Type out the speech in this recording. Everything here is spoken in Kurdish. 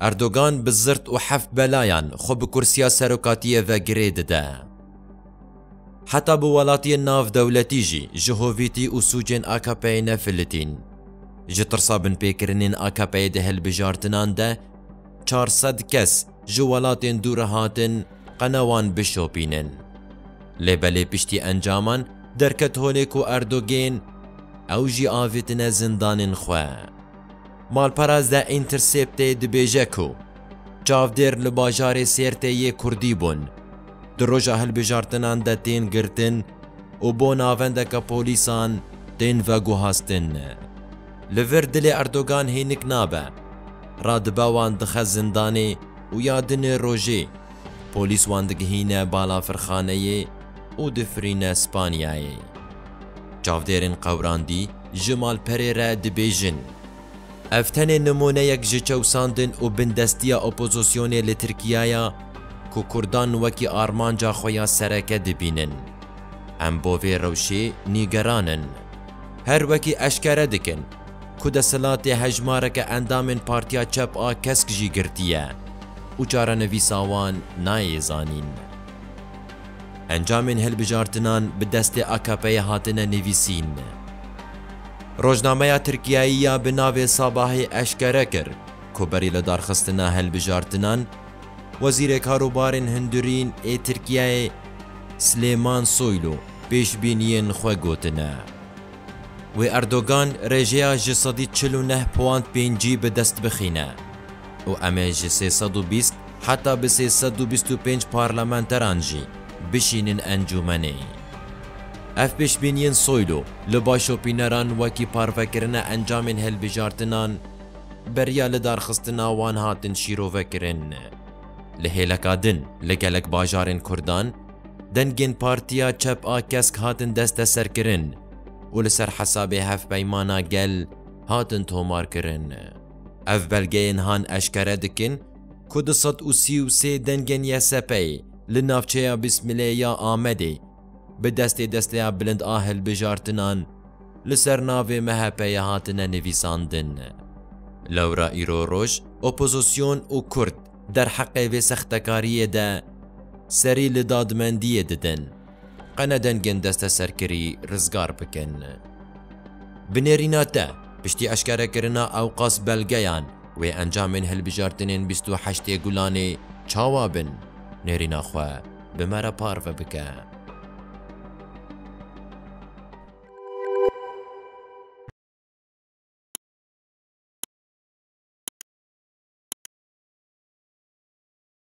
Erdogan bi zirt û heft belayan xwe bi kursiya serokatiyê ve girê dide. Heta bi welatiyên navdewletî jî ji hovîtî û sûcên AKP'ê ne filitîn. Ji tirsa binpêkirinên AKP'ê di hilbijartinan de çar sed kes ji welatên dû re hatin qena wan bişopînin. Lê belê piştî encaman derket holê ku Erdogên ew jî avêtine zindanên xwe. Malperes The Intercept'ê dibêje ku çavdêr li bajarê Sêrtê yê Kurdî bûn, di roja hilbijartinan de tên girtin û bo navendeke polîsan tên veguhastin. Li vir dilê Erdogan hênik nabe, radibe wan dixe zindanê û ya di nê rojê polîs wan digihîne balafirxaneyê û difirîne Spanyayê. Çavdêrên qewrandî, Ji malperê re dibêjin, Ev tenê nimûneyek ji çewsandin û bindestiya opozisyonê li Tirkiye ye ku kurdan wekî armanca xwe ya sereke dibînin. Em bo vê rewşê nîgeran in. Her wekî eşkere dikin ku desthilatê hejmareke endamên Partiya Çep a Kesk jî girtiye û çarenivîsa wan nayê zanîn. Encamên hilbijartinan bi destê AKP'ê hatine nivîsîn. Rojnameya Tirkiyeyê ya bi navê Sabahê eşkere kir ku berî lidarxistina hilbijartinan, Wezîrê Karûbarên Hundirîn ê Tirkiyeyê Silêman Soylu pêşbîniyên xwe gotine. Wê Erdogan rêjeya ji sedî çil û neh puwand pêncî bi dest bixîne. û em ê ji sê sed û bîst heta bi sê sed û bîst û pênc parlamenteran jî bişînin encûmenê. Ev pêşbîniyên Soylu li başopîneran wekî parvekirina encamên hilbijartinan beriya lidarxistina wan hatin şîrovekirin. Li hêleka din li gelek bajarên Kurdan dengên Partiya Çep a Kesk hatin desteserkirin û li ser hesabê Hevpeymana Gel hatin tomarkirin. Ev belgeyên han eşkere dikin ku du sed û sî û sê dengên YSP'ê li navçeya Bîsmilê ya Amedê bi destê Desteya Bilind a Hilbijartinan li ser navê MHP'ê hatine nivîsandin. Lewra îro roj opozîsyon û kurd derheqê vê sextekariyê de serî li dadmendiyê didin. Qene dengên desteserkirî rizgar bikin. Bi nêrîna te, piştî eşkerekirina ewqas belgeyan wê encamên hilbijartinên bîst û heştê Gulanê çawa bin, nêrîna xwe bi me re parve bike.